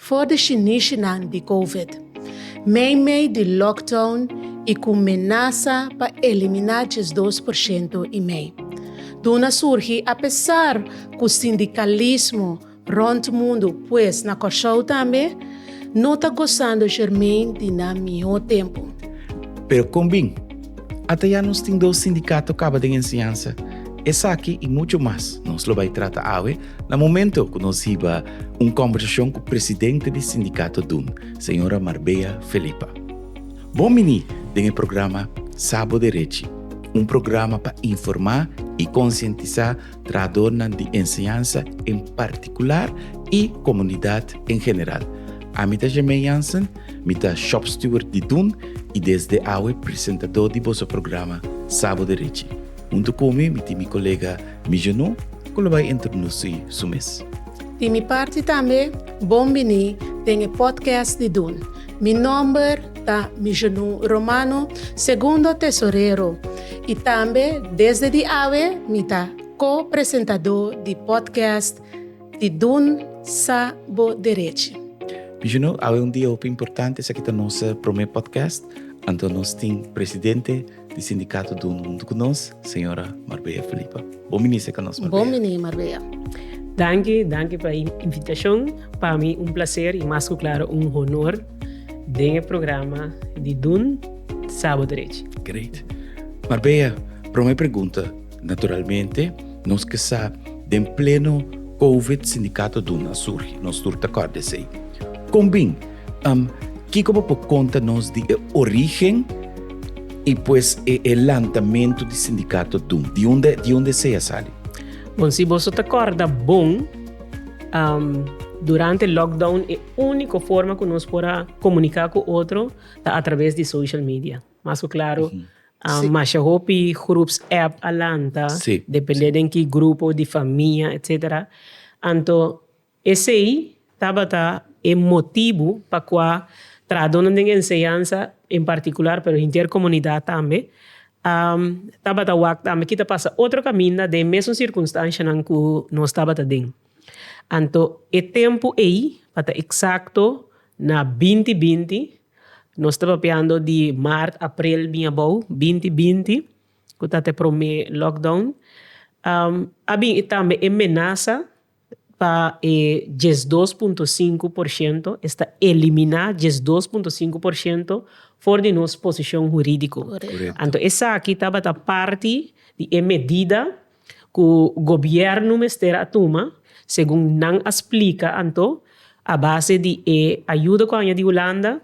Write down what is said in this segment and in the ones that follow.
For di shinishinan di covid, meimei di lockdown i ku menasa pa eliminá diesdos por shento i mei, duna surgi apesar ku sindikalismo rònt mundu, pues na Kòrsou tambe, no ta gosando jermen di nan mihó tempu. Pero kon bin? Ata ya nos tin dos sindikato kaba den enseñansa. Esaki i muchu mas nos lo bai trata awe Na momento cu nos hiba un combersacion cu presidente di Sindicato Dun, señora Marbea Felipa. Bon bini den e programa Sabo Derechi, un programa pa informa y concientisa trahadornan di enseñansa en particular y comunidad en general. Ami ta Germain Jansen, mi ta Shop Steward di Dun y desde awe presentador di boso programa Sabo Derechi. Hunto cu mi, mi tin mi colega, Mi Jeno ku lo bai introdusí su mes. Di mi parti tambe bon biní den e podcast di Dun. Mi nòmber ta Mi Jeno Romano, Segundo Tesorero, i tambe desde di awe mi ta ko-presentadó di podcast di Dun Sa Bo Derechi. Mi Jeno, awe un dia hopi importante, esaki ta nos promé podcast, anto nos tin presidente, di Sindicato dun huntu cu nos, Señora Marbella Filipa. Bon binisé ca nos, Marbella. Bon biní, Marbella. Danki, danki pa e invitacion. Pa mi un placer y mas cu claro un honor den e programa di dun Sabo Derechi. Great. Marbella, prome pregunta, naturalmente nos ke sa den pleno Covid Sindicato dun a surgi, nos tur ta cord esey. Con bin? Am, Kiko bo por konta nos di e origen i pues e e lantamentu di sindikato Dum? Di unda di unda esei a sali? Bon, si boso ta kòrda bon, am, durante lockdown e úniko forma ku nos por a komuniká ku otro ta atraves di social media. Mas ku klaru, am, masha hopi grups app a lanta, dependé den ki grupo di famia, etsetera. Anto. Esei tabata e motibu pa kua trahadónan den enseñansa en partikular, pero henter komunidat tambe, a tabata wak tambe kita pasa otro kaminda den e mesun sirkunstanshanan ku nos tabata den. Anto e tempu ei, pa ta eksakto na binti binti, nos ta papiando di mart, aprel bin abou, binti binti, ku ta ta e promé lockdown, a bin tambe e menasa. pa e djes dos punto sinku por shento, es ta eliminá djes dos punto sinku por shento for di nos posishon hurídiko. Anto esaki tabata parti di e medida ku gobièrnu mester a tuma, segun nan a splika anto, a base di e ayuda ku a haña di Hulanda,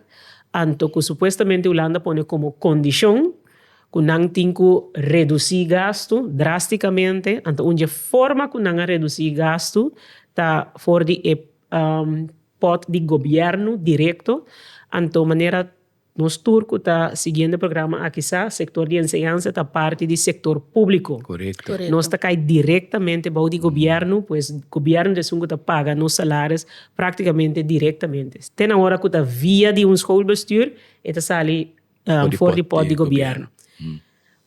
anto ku supuestamente Hulanda pone komo kondishon Cu nan tin cu reduci gastu drásticamente, anto un dje forma cu nan a reduci gastu ta for di e pot di gobierno directo, anto manera nos tur cu ta siguiendo e programa aki sa, sector di enseñansa ta parti di sector publico, nos ta cay directamente bao di gobierno, pues gobierno ta esun cu ta paga nos salaris practicamente directamente. Te na ora cu ta via di un schoolbestuur e ta sali. for di port di gobierno.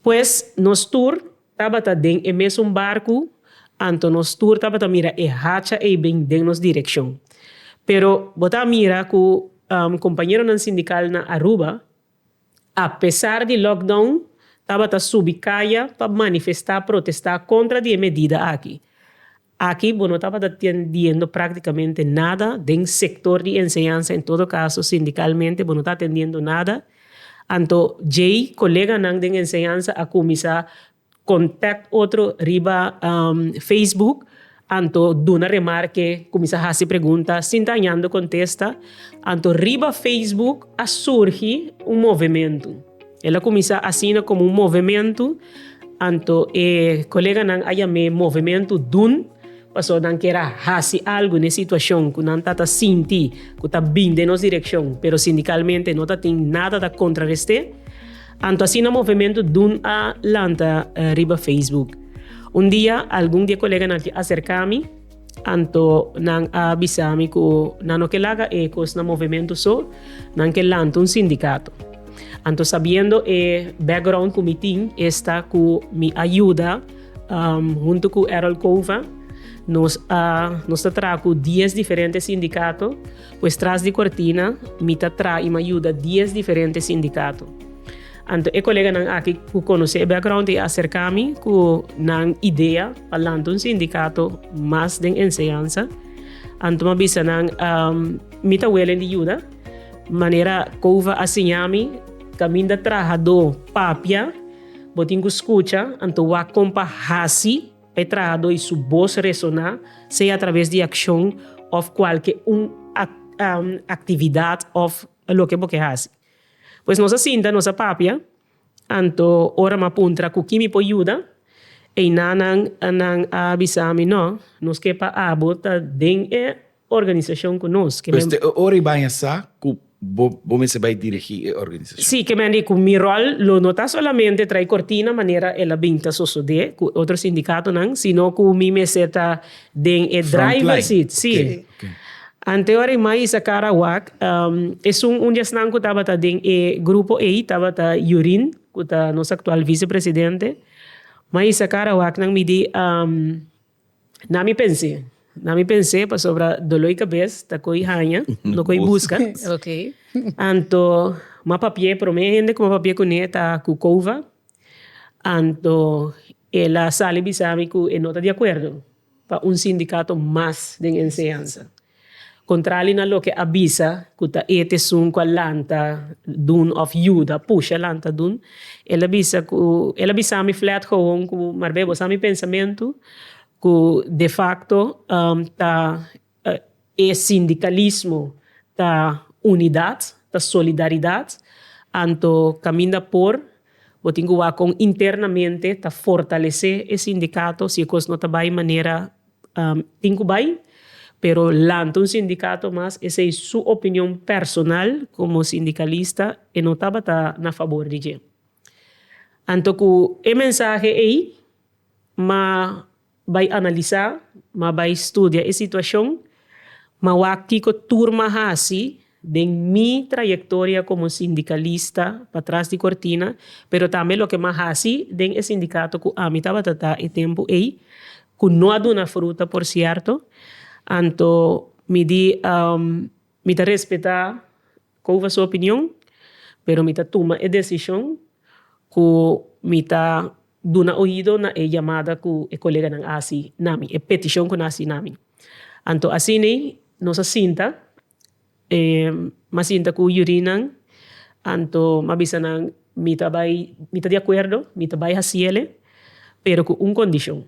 Pues nos tur tabata den e mesun barku anto nos tur tabata mira e hacha ei bin den nos direccion. Pero bo ta mira cu compañeronan sindical na Aruba a pesar di lockdown tabata subi caya pa manifesta, protesta contra di e medida aki. Aki bo no tabata tendiendo práktikamente nada den sektor di enseñansa, en todo kaso sindikalmente bo no ta atendiendo nada, anto djei koleganan den enseñansa a kuminsá kontak otro riba facebook, anto duna remarke, kuminsá hasi pregunta sin ta hañando kontesta, anto riba facebook a surgi un movementu. El a kuminsá asina komo un movementu, anto e koleganan a yam'é movementu dun, pasobra nan ker a hasi algu na e situashon ku nan ta ta sinti ku ta bin den nos direkshon, pero sindikalmente no ta tin nada ta kontrarest'é. Anto asina movementu dun a lanta riba Facebook. Un dia algun di e koleganan aki aserk'ami. Anto nan a bisa mi ku nan no ke laga e kos na movementu so, nan ke lanta un sindikato. Anto sabiendo e background ku mi tin esta ku mi a yuda huntu ku Errol Cova nos a nos ta traha ku dies diferente sindikato, pues tras di kortina mi ta traha i mi a yuda dies diferente sindikato. Anto e koleganan aki ku konosé e background i a aserká mi ku nan idea pa lanta un sindikato mas den enseñansa. Anto mi a bisa nan mi ta welen di yuda manera Cova a siña mi kaminda trahadó papia bo tin ku skucha anto wak kon pa hasi pa e trahadó i su bos resoná sea atraves di akshon òf kualke un aktividat òf loke bo ke hasi. Pues nos a sinta nos a papia anto ora m'a puntra cu ki mi por yuda einanan nan a bisami no nos ke pa abo ta den e organisacion cu nos ke Pues te e ora y baña sa cu bo bo mester bay dirigi e organisacion. Si ke men di cu mi rol lo no ta solamente tray cortina manera el a bin ta sosode cu otro sindicatonan sino cu mi mester ta Den e driver seat, si. Ante ora e mais a kara wak, esun un di esnan ku tabata den e grupo ei tabata Yurin, ku ta nos aktual visepresidente. Mais a kara wak nan midí, na mi pens'é, na mi pens'é pasobra doló i kabes ta koi haña, no koi buska. Anto ma papi'é, promé hende ku ma papi'é kuné ta Kukova. Anto el a sali bisa mi ku e no ta di akuerdo pa un sindikato mas den enseñansa. Kontrali na loke a bisa ku ta et esun ku a lanta dun òf yuda pusha lanta dun, el a bisa ku, el a bisa mi flèt gowon ku, Marbé, bo sa mi pensamentu? Ku defakto ta. E sindikalismo ta unidat, ta solidaridat, anto kaminda por bo tin ku wak kon internamente ta fortalesé e sindikato, si e kos no ta bai manera tin ku bai, pero lanta un sindikato mas, esei su opinion personal komo sindikalista, e no tabata na fabor di dje. Anto ku e mensahe ei ma. Bai analisa, ma bai studia e situacion, ma wak kico tur m'a haci den mi trayectoria como sindicalista patras di cortina, pero tambe loke m'a haci den e sindicato cu ami tabata ta e tempo ey, cu no a duna fruta por cierto, anto mi di mi ta respeta Kova su opinion? Pero mi ta tuma e desishon ku mi ta duna oido na e yamada ku e koleganan a hasi na mi, e petishon ku nan a hasi na mi. Anto asina nos a sinta, mi a sinta ku yurinan, anto mi a bisa nan mi ta bai, mi ta di akuerdo, mi ta bai hasi el'e, pero ku un kondishon.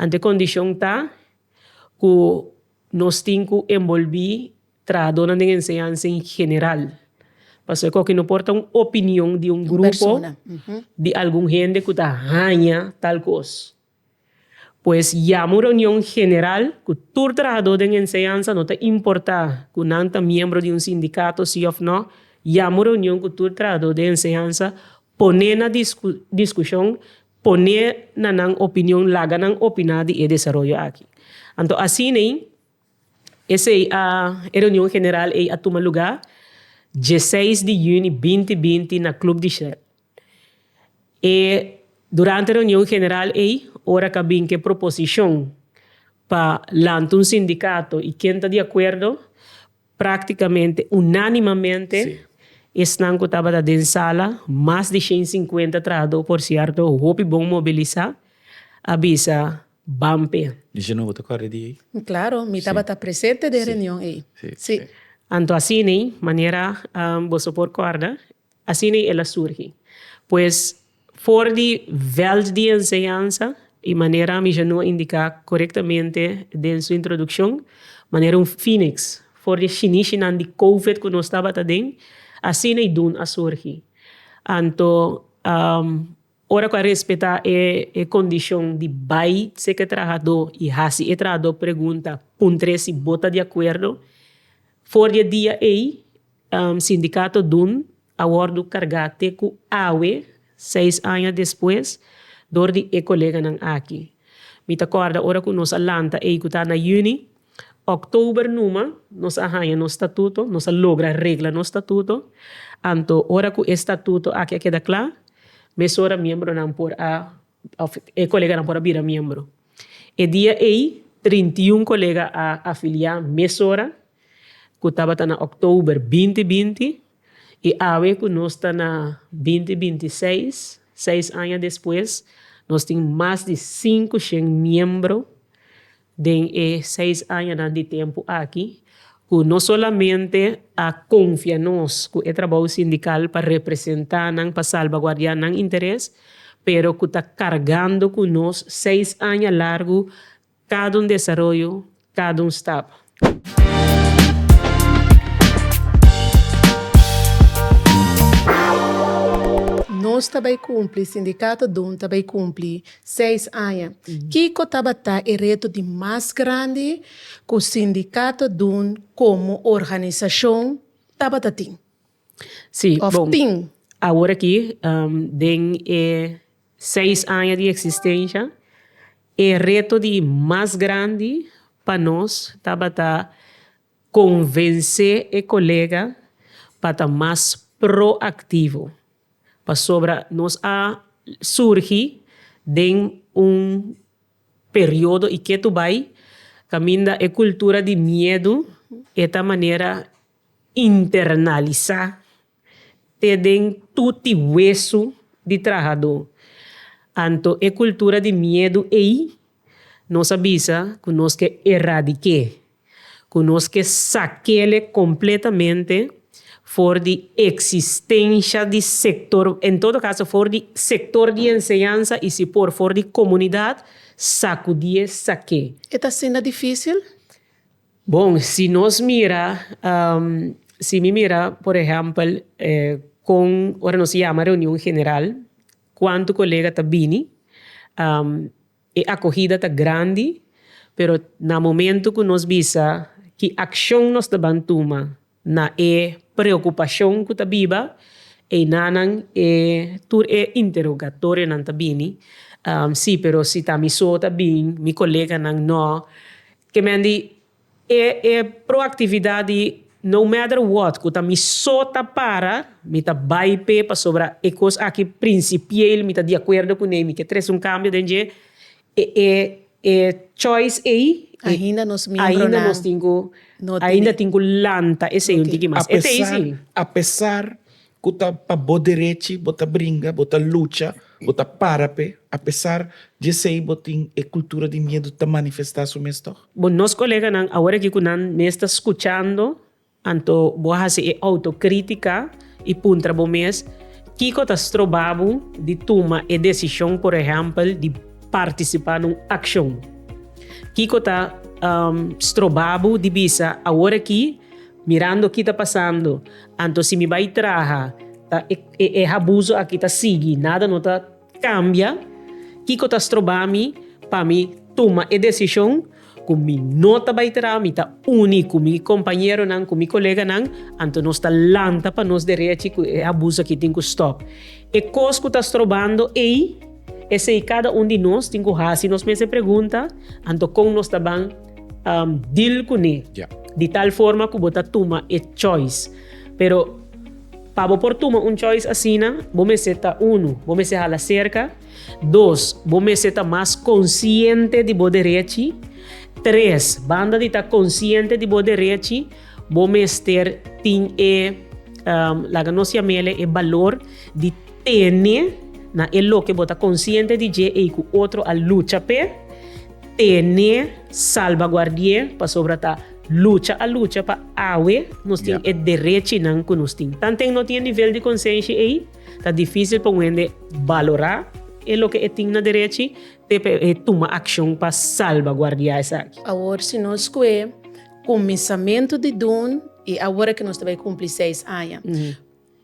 Anto e kondishon ta ku nos tin ku enbolbí. Trahadónan den enseñansa en general. Pasobra ku aki no por ta un opinion di un grupo, di algun hende ku ta haña tal kos. Pues yama un reunion general ku tur trahadó den enseñansa, no ta importá ku nan ta miembro di un sindikato sí òf nò, yama un reunion ku tur trahadó den enseñansa, pone na diskushon, pone na nan opinion, laga nan opiná di e desaroyo aki. Anto asina ei. Esei a e reunion general ei a tuma lugá dieseis di yüni binti binti na Club di Shell. E durante e reunion general ei ora k'a bin ku e proposishon pa lanta un sindikato i ken ta di akuerdo praktikamente unánimamente esnan ku tabata den sala mas di shen sinkuenta trahadó por sierto hopi bon mobilisá a bisa, Bampe. Di Geno bo ta kòrda di ei? Klaro, mi tabata presente den reunion ei. Sí. Anto asina, manera boso por kòrda, asina el a surgi. Pues for di vèlt di enseñansa, i manera mi Geno a indiká korektamente den su introdukshon, manera un fíniks for di e shinishinan di Covid ku nos tabata den, asina Idun a surgi. Anto Ora cu a respeta e condicion di bay sek e trahador y haci e trahador pregunta puntre si bo ta di acuerdo, for di e dia ey sindicato dun a wordo carga te cu awe, seis aña despues, door di e coleganan aki. Mi ta corda ora cu nos a lanta ey cu ta na juni, October numa nos a haña nos statuto, nos a logra regla nos statuto, anto ora cu e statuto aki a keda cla, mesora miembronan por a, of e coleganan por a bira miembro. E dia ey trinta i un colega a afilia mesora, cu tabata na october binti binti, y awe cu nos ta na binti binti i seis, seis aña despues, nos tin mas di cinco shen miembro, Den e seis añanan di tempu aki ku no solamente a konfia nos ku e trabou sindikal pa representá nan, pa salbaguardiá nan interes, pero ku ta kargando ku nos seis aña largu kada un desaroyo, kada un stap. Nos ta bai kumpli, Sindikato Don ta bai kumpli, Seis aña. Kiko tabata e reto di mas grandi ku Sindikato Dun komo organisashon tabata tin òf tin? Awor aki den e seis aña di eksistensha e reto di mas grandi pa nos tabata Konvensé e kolega pa ta mas proaktivo, pasobra nos a surgi den un periodo i ketu bai kaminda e kultura di miedu e ta manera internalisá. te den tuti wesu di trahadó. Anto e kultura di miedu ei nos a bisa ku nos ke eradik'é, ku nos ke sak'ele kompletamente for di eksistensha di sektor, en todo kaso for di sektor di enseñansa i si por for di komunidat, sakudié sak'é. E ta asina difísil? Bon, si nos mira, si mi mira, por ehèmpel, kon ora nos yama reunion general, kuantu kolega ta bini, e akohida ta grandi, pero na momentu ku nos bisa ki akshon nos ta ban tuma. Na e preocupacion cu ta biba einanan e tur e interogatorionan ta bini, si, pero si ta mi so ta bin, mi coleganan no, ke men di e e proactividad di no matter what cu ta mi so ta para mi ta bay p'e pasobra e cos aki principieel mi ta di acuerdo cun'e y mi ke tres un cambio den dje, E e choice ei ainda nos tin cu lanta e sey un tiki mas. E ta ei si. Apesar cu ta pa bo derechi bo ta bringa, bo ta lucha, bo ta para p'e, apesar d'esey bo tin e cultura di miedu ta manifesta su mes tog. Bo nos coleganan awor aki cu nan mes ta scuchando Anto bo a hasi e autokrítika i puntra bo mes, Kiko ta stroba bo di tuma e desishon, por ehèmpel, di partisipá na un akshon? Kiko ta stroba bo di bisa, Awor akí, mirando ki ta pasando, anto si mi bai traha, ta e habuso akí ta sigui, nada no ta. Cambia, Kiko ta stroba mi pa mi tuma e decision cu mi no ta bay traha, mi ta uni cu mi compañeronan, cu mi coleganan, anto nos ta lanta pa nos derechi cu e abuso aki tin cu stop. E cos cu ta strobando ey, esey cada un di nos tin cu haci nos mes e pregunta, anto con nos ta ban deal cu ne di tal forma cu bo ta tuma e choice. Pero. Pa bo por tuma un choice asina, bo mester ta unu, bo mester hala serka, dos, bo mester ta mas konsiente di bo derechi, tres, banda di ta konsiente di bo derechi, bo mester tin e, laga nos yam'e e balor di tene na e loke bo ta konsiente di dje ei ku otro a lucha p'e. Tene salbaguardi'é pasobra ta lucha a lucha pa awe nos tin e derechinan ku nos tin. Tanten no tin e nivel di konsenshi ei, ta difísil pa un hende balorá e loke e tin na derechi te pa e tuma akshon pa salbaguardiá esaki. Awor si nos skué kuminsamentu di dun i awor a ke nos ta bai kumpli seis aña.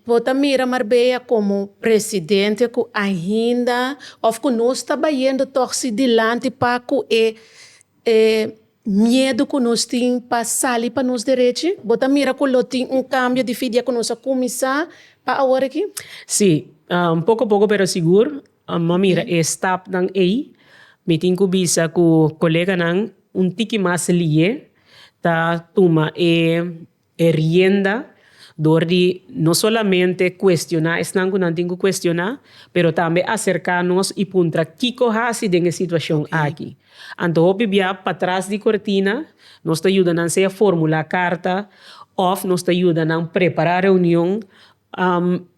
Bo ta mira Marbella como presidente cu ainda of cu nos ta bayendo tog si dilanti pa cu e e miedu cu nos tin pa sali pa nos derechi? Bo ta mira cu lo tin un cambio di fidia cu nos a cuminsa pa awor aki? Si, poco poco pero sigur m'a mira e stapnan ey. Mi tin cu bisa cu coleganan un tiki mas liye ta tuma e. e rienda dor di no solamente cuestioná esnan cu nan tin cu cuestioná, pero tambe acercá nos y puntra kico haci den e situacion aki. Anto hopi bia patras di cortina nos ta yuda nan sea formulá carta of nos ta yuda nan prepará reunion,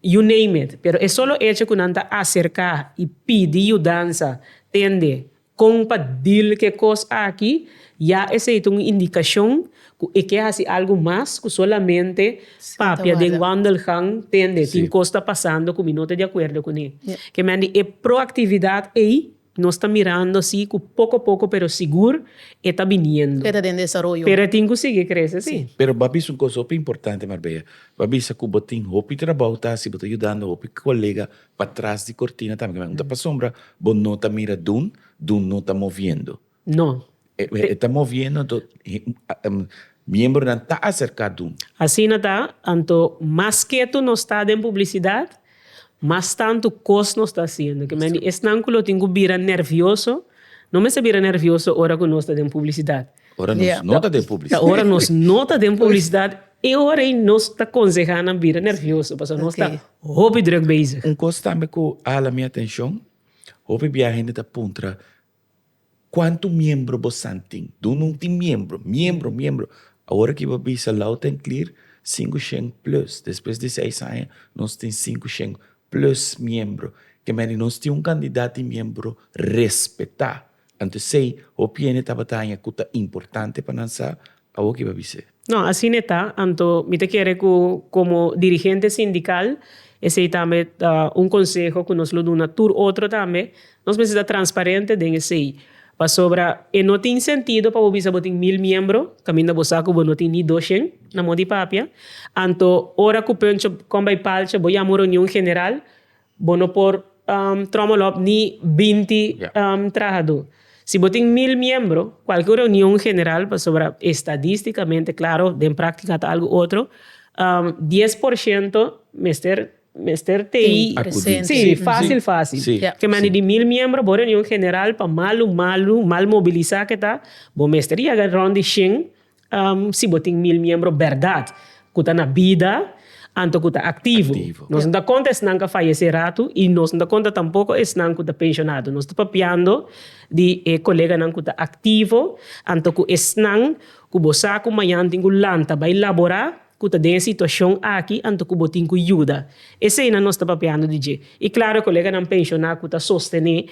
you name it, pero e solo hecho cu nan ta acercá y pidi yudansa tende Kon pa deal ke kos aki? Ya esei ta un indikashon ku e ke hasi algu mas ku solamente papia den Wandelgang, tende tin kos ta pasando ku mi no ta di akuerdo kuné. Ke men di e proaktividat ei nos ta mirando asi ku poko poko pero sigur e ta biniendo. Pero e ta den desaroyo. Pero e tin ku sigui krese si. Pero bo a bisa un kos hopi importante Marbella, bo a bisa ku bo tin hopi trabou ta hasi, bo ta yudando hopi kolega Pa tras di cortina tambe kiman? Unda pa sombra bo no ta mira Dun, Dun no ta moviendo. No. E ta moviendo anto miembronan ta acerca Dun. Asina ta, anto mas ketu nos ta den publicidad, mas tanto cos nos ta haciendo. Kiman di esnan cu lo tin cu bira nervioso, no mester bira nervioso ora cu nos ta den publicidad. Ora nos no ta den publicidad. Ta ora nos no ta den publicidad e ora ei nos ta conseha nan bira nervioso pasobra nos ta hopi druk bezig. Un cos tambe cu hala mi atencion, hopi bia hende ta puntra cuantu miembro bosan tin. Dun no tin miembro, miembro, miembro. Awor aki bo bisa loud and clear cinco shen plus. Despues di seis aña nos tin cinco shen plus miembro. Kemey di nos tin un cantidad di miembro respeta. Antes ei, hopi hende tabata haña ku ta importante pa nan sa. Awor kiba bis'é? No, asina e ta. Anto mi ta kere ku komo dirigente sindikal, esei tambe ta un konseho ku nos lo duna tur otro tambe, nos mester ta transparente den esei. Pasobra e no tin sentido pa bo bisa bo tin mil miembro kaminda bo sa ku bo no tin ni doshen na mos di papia. Anto ora ku Pöncho kon bai palcha, bo yama un reunion general, Bo no por tromol op ni binti trahadó. Si bo tin mil miembro, kualke un reunion general, pasobra estadístikamente, klaro den práktika ta algu otro, dies por shento mester, mester tei, sí, fásil, fásil. Ke manera di mil miembro, bo reunion general, pa malu, malu, mal mobilisá ke ta, bo mester yaga rònt di shen. Si bo tin mil miembro berdad cu ta na bida anto cu ta activo. Nos no ta conta esnan cu a fayece ratu y nos no ta conta tampoco esnan cu ta pensionado. Nos ta papiando di e coleganan cu ta activo anto cu esnan cu bo sa cu mañan tin cu lanta bay labora. ku ta den e situashon aki anto ku bo tin ku yuda. Eseinan nos ta papiando di dje. I klaru e koleganan penshoná ku ta sostené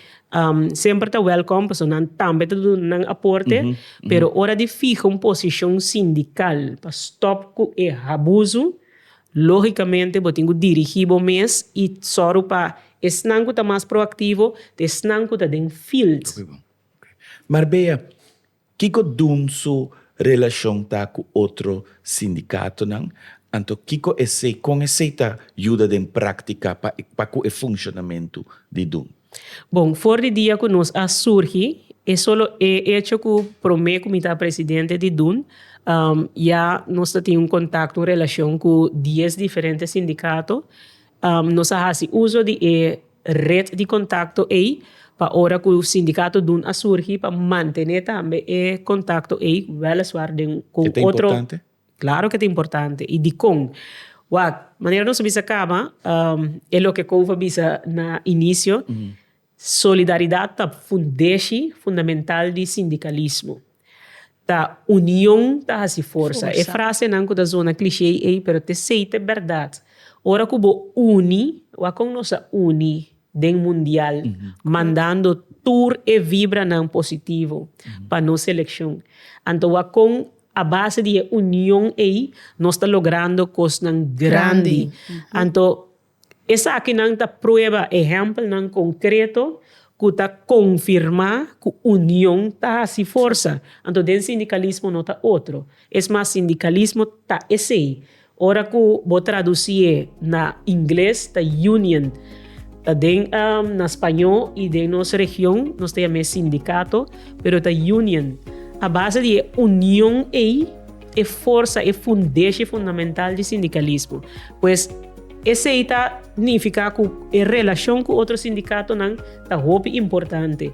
semper ta wèlkòm pasobra nan tambe ta duna nan aporte, pero ora di fiha un posishon sindikal pa stòp ku e habuzu, lógikamente bo tin ku dirigí bo mes i sòru pa esnan ku ta mas proaktivo te esnan ku ta den field. Marbella, Kiko Dun su relashon ta ku otro sindikatonan, anto kiko esei kon esei ta yuda den práktika pa pa ku e funshonamentu di Dun? Bon, for di dia ku nos a surgi, e solo e echo ku promé ku mi ta presidente di Dun, ya nos ta tin un kontakto, un relashon ku dies diferente sindikato, Nos a hasi uso di e ret di kontakto ei pa ora ku sindikato dun a surgi pa mantené tambe e kontakto ei, wèleswaar den ku otro. E ta importante? Klaro ku e ta importante. I dikon? Wak, manera nos a bisa kaba, e loke Kouve a bisa na inisio, Solidaridat ta fundeshi fundamental di sindikalismo. Ta union ta hasi forsa. E frasenan ku ta zona klishé ei pero ta esei ta e bèrdat. Ora ku bo uni, wak kon nos a uni den mundial mandando tur e vibranan positivo pa nos selekshon. Anto wak kon a base di e union ei nos ta logrando kosnan grandi. Anto Esakinan ta prueba ehèmpelnan konkreto ku ta konfirmá ku union ta hasi forsa. Anto den sindikalismo no ta otro. Es mas, sindikalismo ta esei. Ora ku bo tradusié na ingles ta union. Ta den na spañó i den nos region nos ta yam'é sindikato, pero ta union. A base di e union ei. e forsa, e fundeshi fundamental di sindikalismo. Pues esei ta nifiká ku e relashon ku otro sindikatonan ta hopi importante.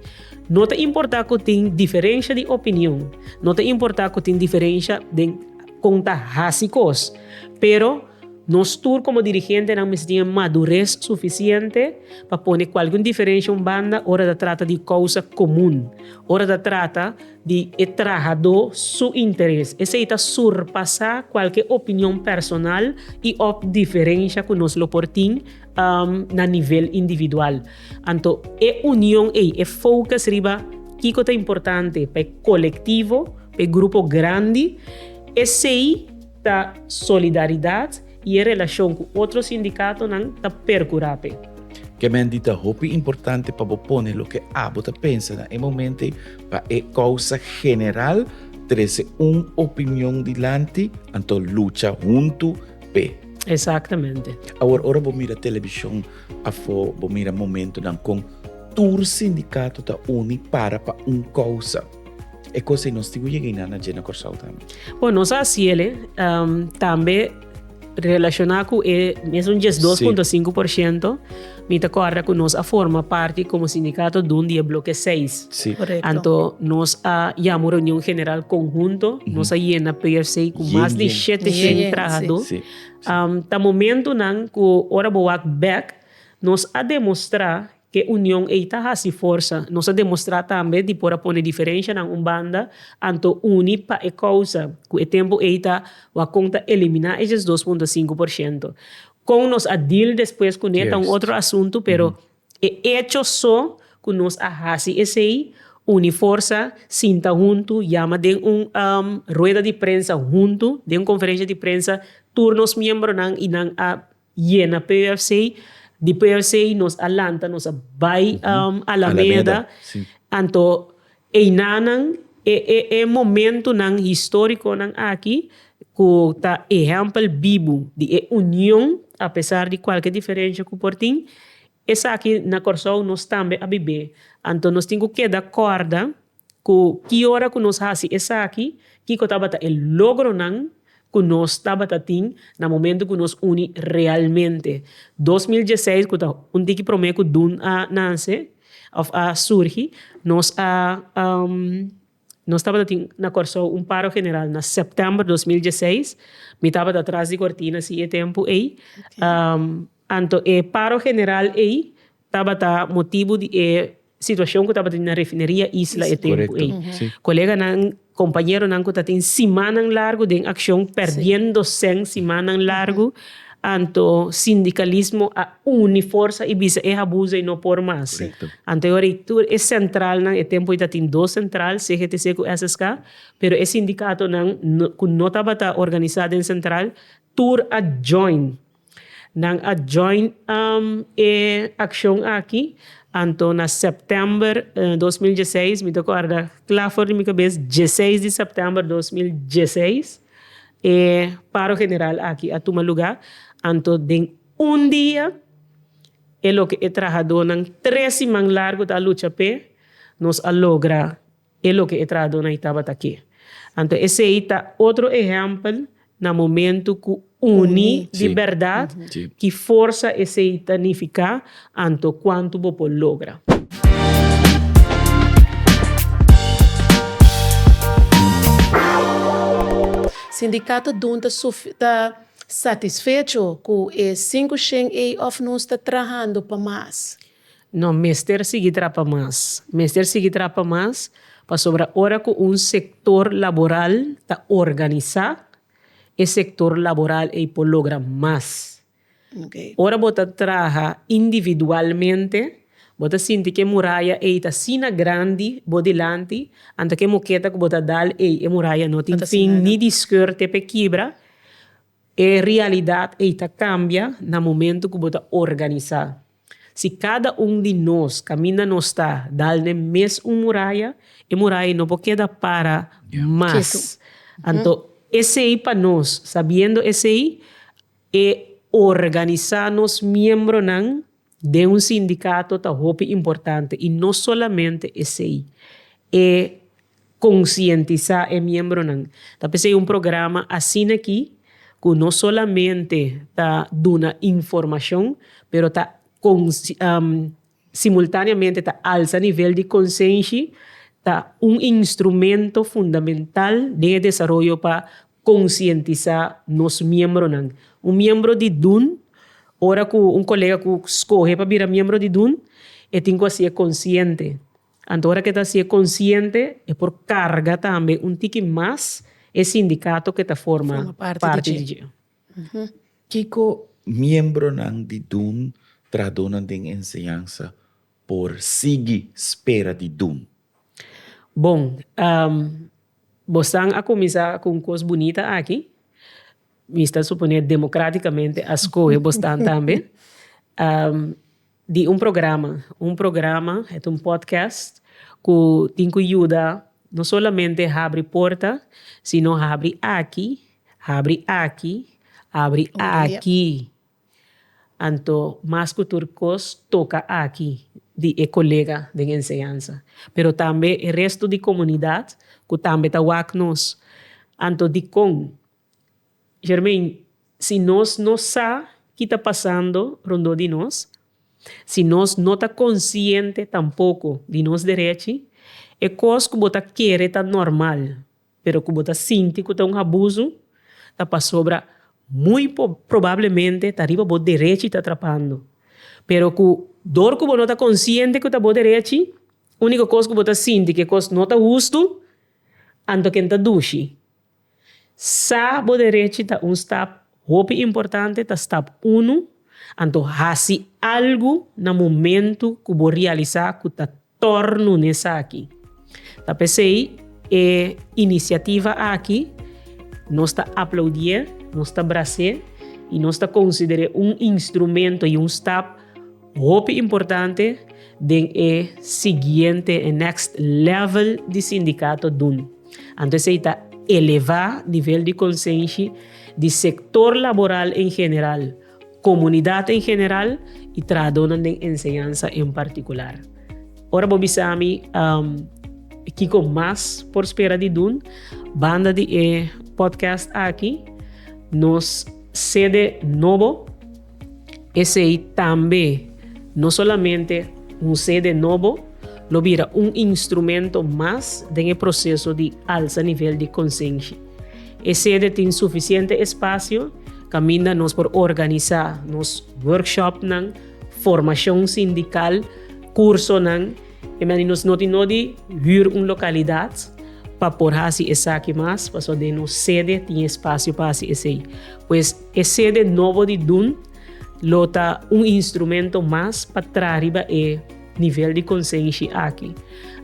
No ta importá ku tin diferensha di opinion, no ta importá ku tin diferensha den kon ta hasi kos, pero nos tur komo dirigentenan mester tin e madures sufisiente pa pone kualke un diferensha un banda ora ta trata di kousa komun, ora ta trata. di e trahadó su interes. Esei ta surpasá kualke opinion personal i òf diferensha ku nos lo por tin na nivel individual. Anto e union ei, e focus riba kiko ta importante pa e kolektivo, pa e grupo grandi, esei. Ta solidaridad y e relacion cu otro sindicatonan ta percura p'e. Kemendi ta hopi importante pa bo pone loke abo ta pensa na e momento ei pa e causa general, trece un opinion dilanti anto lucha hunto p'e. Exactamente. Awor ora bo mira television afo bo mira momentonan con tur sindicato ta uni para pa un causa. E cos ei nos tin cu yega y nan a dje na Corsou tambe. Bo nos a haci el tambe relaciona cu e mesun dies dos punto cinco por ciento. Mi ta corda cu nos a forma parti como sindicato dun di e bloke seis. Anto nos a yama un reunion general conhunto. Nos a yena PFC cu mas di shete shen trahador. Ta momentonan cu ora bo wak bek nos a demostra E union ei ta hasi forsa. Nos a demostrá tambe di por a pone diferenshanan un banda anto uni pa e kousa ku e tempu ei ta wakon ta eliminá eshes dos punto sinku por shento. Kon nos a deal despues kuné ta un otro asuntu, pero e echo so ku nos a hasi esei, uni forsa, sinta huntu, yama den un rueda di prensa huntu, den un konferensha di prensa tur nos miembronan i nan a Yena PUFC, di PUFC nos a lanta nos a bai Alameda, anto einanan e e e momentunan historiconan aki cu ta ehempel bibu di e union apesar di cualke diferencia cu por tin, esaki na Corsou nos tambe a bibe, anto nos tin cu keda corda. Ku ki ora ku nos hasi esaki? Kiko tabata e logronan ku nos tabata tin na momentu ku nos uni realmente? Dos mil dieseis, ku ta un tiki promé ku Dun a nanse òf a surgi, nos a nos tabata tin na Kòrsou un paro general na sèptèmber dos mil dieseis. Mi tabata tras di kortina si e tempu ei. Anto e paro general ei. Tabata motibu di e situacion cu tabata di na refineria Isla e tempo ey. Coleganan, compañeronan cu ta tin simannan largu den accion, perdiendo cen simannan largu, anto sindicalismo a uni forsa y bisa e habuzo ey no por mas. Anto e ora ey tur e centralnan, e tempo ey ta tin dos central, CGTC cu SSK, pero e sindicatonan cu no tabata organisa den central, tur a join. Nan a join e accion aki, anto na september dos mil dieseis, mi ta corda cla for di mi cabes, dieseis di september dos mil dieseis e paro general aki a tuma lugar, anto den un dia e loke e trahadonan tres siman largo ta a lucha p'e, nos a logra. E loke e trahadónai tabata ke. Anto esei ta otro ehèmpel na momentu ku uni di bèrdat, ki forsa esei ta nifiká, anto kuantu bo por logra. Sindikato dun ta ta satisfecho ku e sinku shen ei òf nos ta trahando pa mas? No mester sigui trapa mas. Mester sigui trapa mas pasobra ora cu un sector laboral ta organisa, e sector laboral ey por logra mas. Ora bo ta traha individualmente, bo ta sinti cu e muraya ey ta asina grandi bo dilanti, anto cu e moqueta cu bo ta dal ey, e muraya no tin fin ni di scuer te pe kibra. E realidat ei ta kambia na momentu ku bo ta organisá. Si kada un di nos kaminda nos ta dal n'e mes un muraya, e muraya ei no por keda para mas. Anto esei pa nos, sabiendo esei, e organisá nos miembronan Den un sindicato ta hopi importante y no solamente esey, e concientisa e miembronan. Ta p'esey un programa asina aki cu no solamente ta duna informacion pero ta simultaneamente ta alza nivel di consenshi, ta un instrumento fundamental den e desaroyo pa. Konsientisá nos miembronan. Un miembro di DUN, ora ku un kolega ku skohe pa bira miembro di DUN, e tin ku hasié konsiente. Anto ora ku e ta hasié konsiente, e por karga tambe un tiki mas e sindikato ku e ta forma parti di dje. Kiko miembronan di DUN tradunan den enseñansa por sigui spera di dun. Bon, bosan a kuminsá ku un kos bunita aki, mi ta suponé demokratikamente a skohe bosnan tambe, di un programa, un programa het un podcast ku tin ku yuda no solamente habri porta sino habri aki, habri aki, habri aki. Anto mas ku tur kos toka aki di e kolega den enseñansa, pero tambe e restu di komunidat ku tambe ta wak nos. Anto dikon? Germain, Si nos no sa ki ta pasando rondó di nos, si nos no ta konsiente tampoko di nos derechi, e kos ku bo ta kere ta normal. pero ku bo ta sinti ku ta un abusu, ta pasobra muy probablemente ta riba bo derechi ta trapando. Pero ku dor ku bo no ta konsiente ku ta bo derechi, úniko kos ku bo ta sinti ku e kos no ta hustu, anto ken ta dushi. Sa bo derechi ta un stap hopi importante, ta stap unu, anto hasi algu na momentu ku bo realisá ku ta. Tor nun esaki. Ta pesey e inisiativa aki nos ta aploudié, nos ta brasé i nos ta konsider'é un instrumento i un stap hopi importante den e siguiente, e next level di sindikato dun. Anto esei ta elevá nivel di konsenshi di sektor laboral en general, comunidad en general y trahadornan den enseñansa en particular. Ora bo bisa mi um, kiko mas por spera di dun, banda di e podcast aki, nos sede nobo, esei tambe no solamente un sede nobo, lo bira un instrumento mas den e proceso di alsa nivel di conscienshi. E sede tin sufisiente espasio kaminda nos por organisá nos workshopnan, formashon sindikal, kursonan. E mester di nos no tin nodi hür un lokalidat pa por hasi esaki mas, pasobra den nos sede tin espasio pa hasi esei. Pues e sede nobo di Dun lo ta un instrumento mas pa traha riba e nivel di konsenshi aki.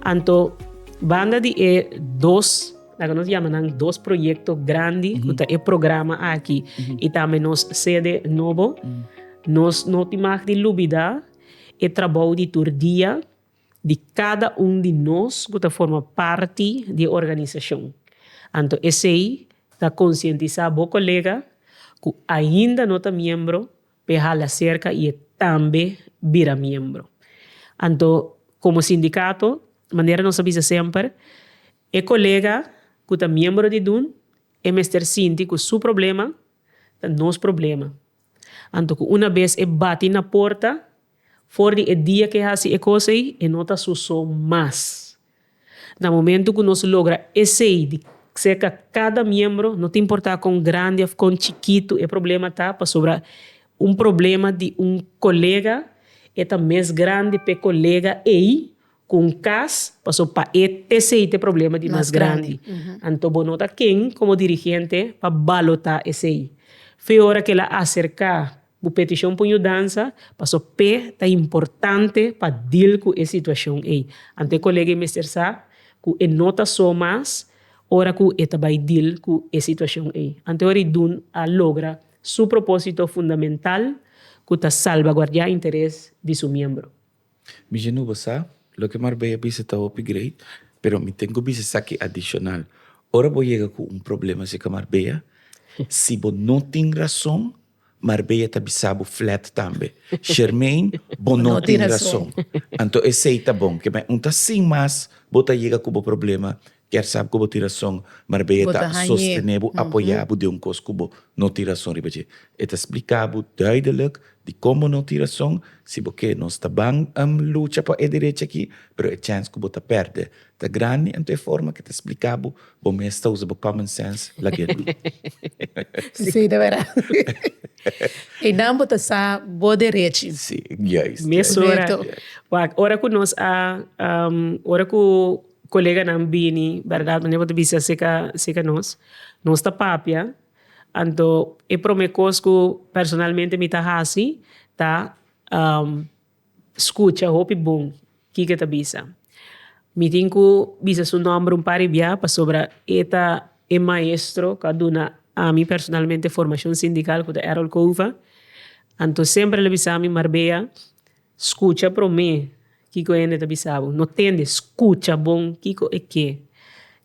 Anto banda di e dos. Laga nos yama nan dos proyekto grandi ku ta e programa aki i tambe nos sede nobo. Nos no tin mag di lubidá e trabou di tur dia di kada un di nos ku ta forma parti di e organisashon. Anto esei ta konsientisá bo kolega ku ainda no ta miembro pa e hala serka i e tambe bira miembro. Anto komo sindikato manera nos a bisa semper. E kolega ku ta miembro di dun e mester sinti ku su problema ta nos problema. Anto ku una bes e bati na porta for di e dia ku e hasi e kos ei, e no ta su so mas. Na momentu ku nos logra esei di serka kada miembro, no ta importá kon grandi òf kon chikitu e problema ta, pasobra un problema di un kolega e ta mes grandi p'e kolega ei cu un cas paso pa e p'esey t'e problema di mas grandi. Anto bo no ta ken como dirigente pa balota esey. Fe ora k'el a acerca bo peticion p'un yudansa paso p'e ta importante pa deal cu e situacion ey. Anto e colega ey mester sa cu e no ta so mas ora cu e ta bay deal cu e situacion ey. Anto e ora y dun a logra su proposito fundamental cu ta salvaguardia interes di su miembro. Mi jinu bo sa loke Marbella bisa ta hopi great, pero mi tin ku bisa esaki adishonal. Ora bo yega ku un problema asina ku Marbella, si bo no tin rason, Marbella ta bisa bo flat tambe, Shermaine, bo no tin rason. Anto esei ta bon, ke men un ta sin mas bo ta yega ku bo problema Kier sab ku bo tin rason, marbei e ta sostené bo, apoyá bo den un kos ku bo no tin rason riba dje. E ta spliká bo duidelik di kon bo no tin rason. Si bo ke, nos ta ban lucha pa e derechi akí, pero e chèns ku bo ta pèrdè ta grandi. Anto e forma ku e ta spliká bo, bo mes ta usa bo common sense lagu'é nan. Sí, ta bèrdat. Einan bo ta sa bo derechi. Sí, juist. Mesora. Wak, ora ku nos a, ora ku. coleganan bini berdad mane bo ta bisa acerca nos nos ta papia anto e prome cos cu personalmente mi ta haci ta scucha hopi bon kiko e ta bisa mi tin cu bisa su nomber un par di bia pasobra e ta e maestro cu a duna ami personalmente formacion sindical cu ta Erol Cova anto semper el a bisami Marbea. Scucha promé kiko e hende ta bisa bo. No tende, scucha bon kiko e ke,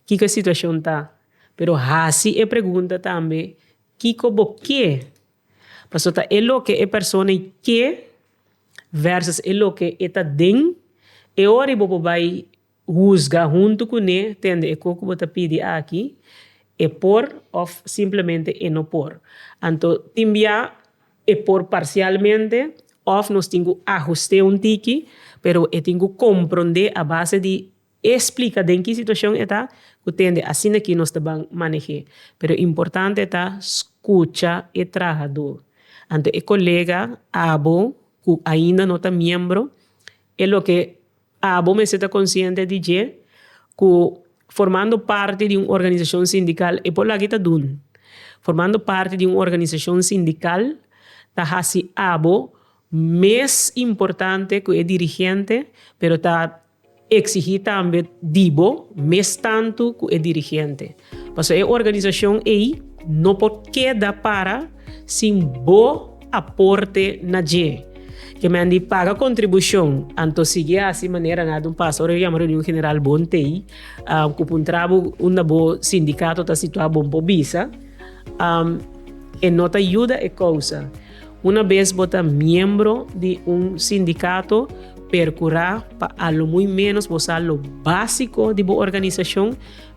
kiko e situacion ta. Pero haci e pregunta tambe, kiko bo ke? Pasobra ta e loke e persona i ke versus e loke e ta den e ora i bo por bai. Husga huntu kuné tende e ko ku bo ta pidi aki, e por òf simplemente e no por. Anto tin bia e por parsialmente òf nos tin ku ahust'é un tiki, pero e tin ku komprondé a base di e splika den ki situashon e ta ku tende asina ki nos ta ban maneh'é. Pero importante ta skucha e trahadó. Anto e kolega, abo, ku ainda no ta miembro, e loke. Abo mester ta konsiente di dje ku formando parti di un organisashon sindikal e por lag'é ta dun. Formando parti di un organisashon sindikal ta hasi abo mes importante ku e dirigente, pero ta eksigí tambe di bo mes tantu ku e dirigente. Paso e organisacion ey no por keda para sin bo aporte na dje. Keme a ndi paga contribucion, anto sigui haci manera nan a dun pas ora yo yama reunion general bon tey cu puntra bo unda bo sindicato ta situa bon por bisa. E no ta yuda e causa. Una bes bo ta miembro di un sindicato, percura pa a lo muy menos bo sa lo basico di bo organisacion.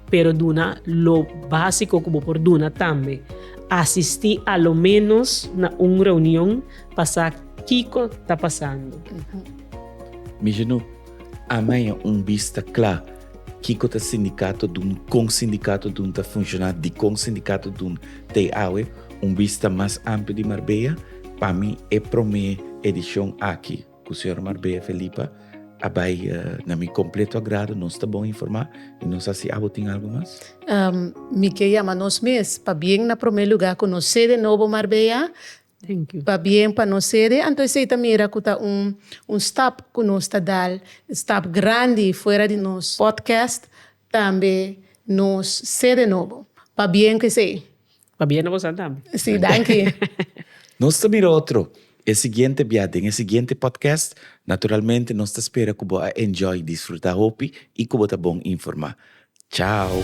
Pero duna lo básico cu bo por duna tambe. Asistí a lo menos na un reunion pa sa kico ta pasando. Mijinu, Amaña un bis ta cla kico ta sindicato dun, con sindicato dun ta funciona, dicon sindicato dun ta e awe. Un bis ta mas amplio di Marbella. Pa mi e prome edicion aki. Ku señor Marbella Felipa a bai na mi kompleto agrado. Nos ta bon informá i nos a si abo tin algu mas? Mi ke yama nos mes pa bien na promé lugá ku nos sede nobo Marbella pa bien pa nos sede. Anto esei ta mira ku ta un stap ku nos ta dal, stap grandi fuera di nos podcast tambe nos sede nobo pa bien ku esei. Pabia no bo sa tambe. Sí, danki. Nos ta mira otro e siguiente bia den e siguiente podcast. Naturalmente nos ta spera cu bo a enjoy, disfruta hopi y cu bo ta bon informa. Chao!